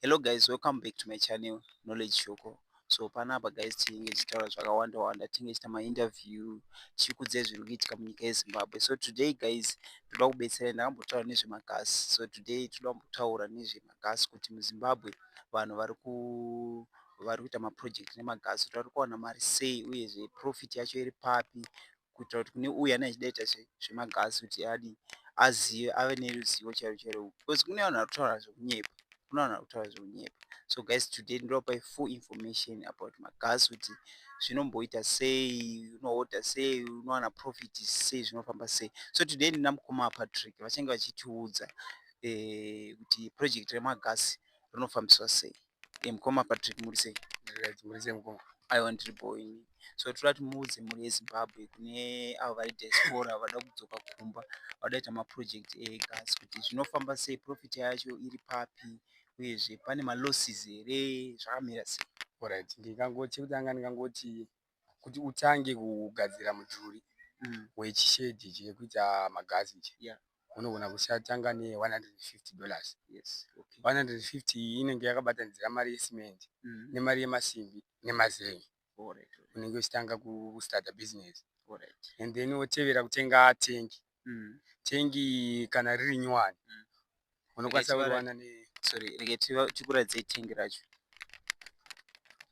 hello guys welcome back to my channel knowledge shoko so panapa guys tinenge tichitaura zvakawanda wanda tinenge tichita mainterview tichikudze zviri kuitika munyika yezimbabwe so today guys toda kubetsera ndakambotaura nezvemagasi so today toda kumbotaura nezvemagasi kuti muzimbabwe vanhu vari ku vari kuita maproject nemagasi kuti vari kuwana mari sei uyezve profit yacho iri papi kuitira kuti kune uya anenge achida kuita zvemagasi kuti adii azive ave neruzivo chairo chairo because kune vanhu vari kutaura zvekunyepa kune vanhu vari kutaura zvekunyepa so guys today ndinopai full information about magas kuti zvinomboita sei unoorder sei unowana profit sei zvinofamba sei so today ndina mukoma patrick vachange vachitiudza eh, kuti project remagasi rinofambiswa sei e mukoma patrick muri sei muri sei mukoma aiwa ndiri bho ini so toda kuti muudze mhuri yezimbabwe kune avo vari diaspora vada kudzoka kumba vada kuita maproject egas kuti zvinofamba sei profit yacho iri papi uyezve pane malosses here zvakamira sei orit ndikangoti chekutanga ndingangoti kuti utange kugadzira mudhuri wechishedhi chekuita magazi ichi yeah. unogona kusatanga ne150 dollars yes. okay. 150 iyi inenge yakabatanidzira mari yecement mm. nemari yemasimbi nemazengi unenge uchitanga kustarta business Alright. and then wotevera kutenga tengi mm. tengi kana riri nyowani mm. unokwanisa kuriwana ne sorry rege tikuradzei tengi racho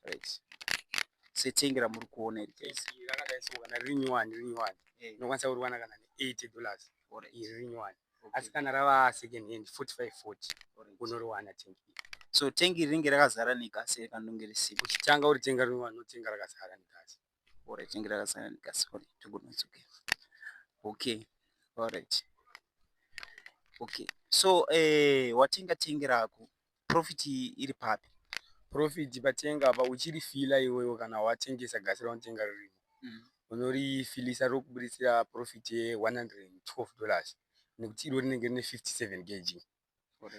right setengi ramuri kuona iri guys rakadai so kana riri nyowani riri nyowani eh. unokwanisa kuriwana kana ne 80 dollars or iri riri nyowani asi kana rava second hand 45 40 unoriwana tengi so tengi ringe rakazara negasi kanonge risipo uchitanga uritenga rinotenga rakazara negasi alright inge rakasangana ndikasori togonodzokera okay alright okay so eh, watenga tenge rako profit iri papi profit patenga apa uchirifila iwewe kana watengesa gasi raunotenga riri mm. unorifilisa rokubuditsira profit ye 112 dollars nekuti iro rinenge rine 57 kg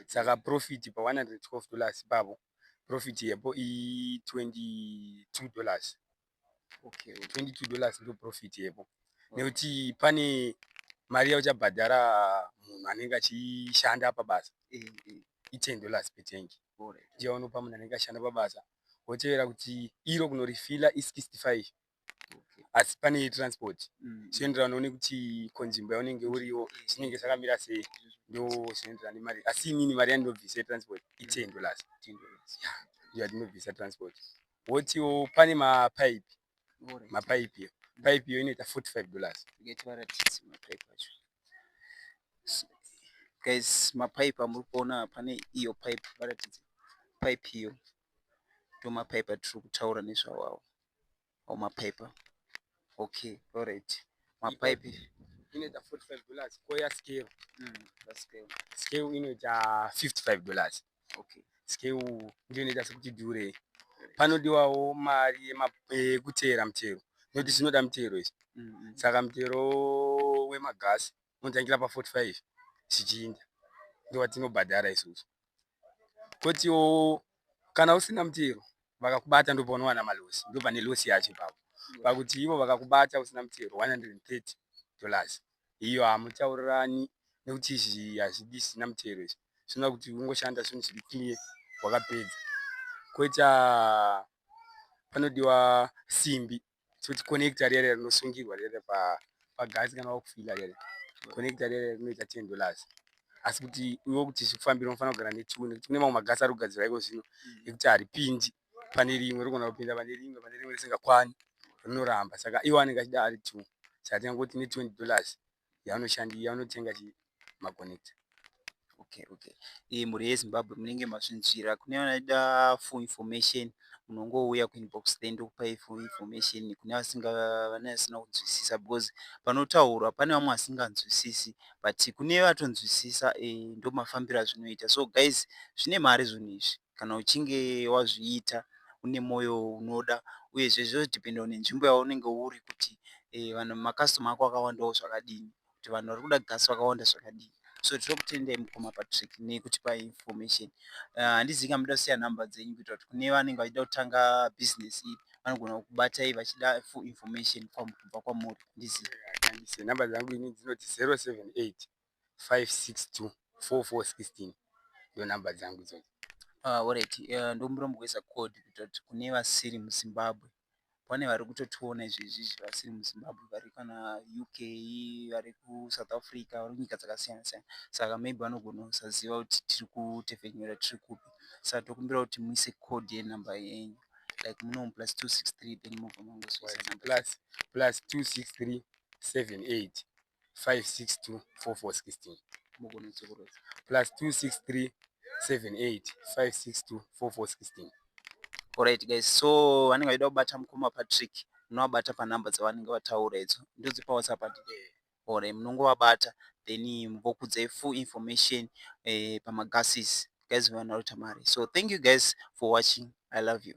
saka profit pa 112 dollars ipavo profit yepo i 22 dollars okay 22 dollars ndo profit yepo nekuti pane mari yauchabhadhara munhu anenge achishanda pabasa eh, eh. i 10 dollars per tank ndiyo unopa munhu anenge achishanda pabasa wotevera kuti iro kunorifila i 65 asi pane transport zvinoenderana mm. noone kuti konzvimbo yaunenge uriwo zvinenge zvakamira sei ndo zvinoenderana nemari asi inini mari yandinobvisa yetransport iten mm. dollars yandinobvisa transport wotiwo pane mapaipi mapaipi yo paipi yo inoita 45 dollars guys mapaipi amuri kuona pane iyo paipi varatidze paipi iyo ndomapaipi atiri kutaura nezvawawo or mapipe okay alright mapipe inoita 45 dollars koya scale mm, scale scale inoita 55 dollars okay scale ndiyo inoita sekuti dure panodiwawo mari yekuteera mutero nekuti zvinoda mutero izvi mm, mm. saka mutero wemagasi unotangira pa 45 zvichiinda ndowatinobhadhara isusu kotiwo kana usina mutero vakakubata ndopaunowana malosi ndopane losi yacho ipapo pakuti ivo vakakubata usina mutero 130 dollars iyo hamutaurirani nekuti izvi hazvidi zvisina mutero izvi zvinoda kuti ungoshanda zvinhu zviri clear wakapedza koita panodiwa simbi toti connector rere rinosungirwa rere pagasi kana wakufila rere connector rere rinoita ten dollars asi kuti iwe kuti zvikufambira unofanira kugara netuwe nekuti kune mamwe magasi ari kugadzirwa iko zvino ekuti haripindi pane rimwe rikona kupinda pane rimwe pane rimwe risingakwani rinoramba saka iwe anenge achida ari two saka tingangoti ne twenty dollars yaanoshandi yaanotenga chi maconnector okay okay iyi mhuri yezimbabwe munenge mazvinzvira kune vanoda full information munongouya kuinbox then ndokupai full information kune vasinga vane vasina kunzwisisa because panotaurwa pane vamwe vasinganzwisisi but kune vatonzwisisa e, ndomafambiro azvinoita so guys zvine mari zvinhu izvi kana uchinge wazviita une moyo unoda uyezve zvinodhipenda nenzvimbo yaunenge uri kuti makasitoma ako akawandawo zvakadini kuti vanhu vari kuda gasi vakawanda zvakadini so tiri kutendai mukoma patrick nekutipa information eh, handizivi uh, kamuda kusiya nhamba dzenyu kuitira kuti kune vanenge vachida kutanga business iyi vanogona kubatai vachida full information kubva kwamuri ndizive nhamba dzangu ini dzinoti 078 562 4416 ndo number dzangu idzodzo Ah, alright uh, ndombura mugweza code kutoti kune vasiri muzimbabwe pane vari kutotiona izvezvizvi vasiri muzimbabwe vari kana uk vari kusouth africa vari kunyika dzakasiyana siyana saka maybe vanogona kusaziva kuti tiri kutefenyura tiri kupi saka tokumbira kuti muise code yenumber yenyu like munomu plus 263 then mobva mangozoisa plus plus 263 78 562 4416 plus 263 78 562 4416 Alright guys, so vanenge vachida kubata mukoma Patrick munovabata panhamba dzavanenge vataura idzo ndodzipa WhatsApp ati or munongovabata then vokudza full information eh, pamagases guys vanoita mari so thank you guys for watching i love you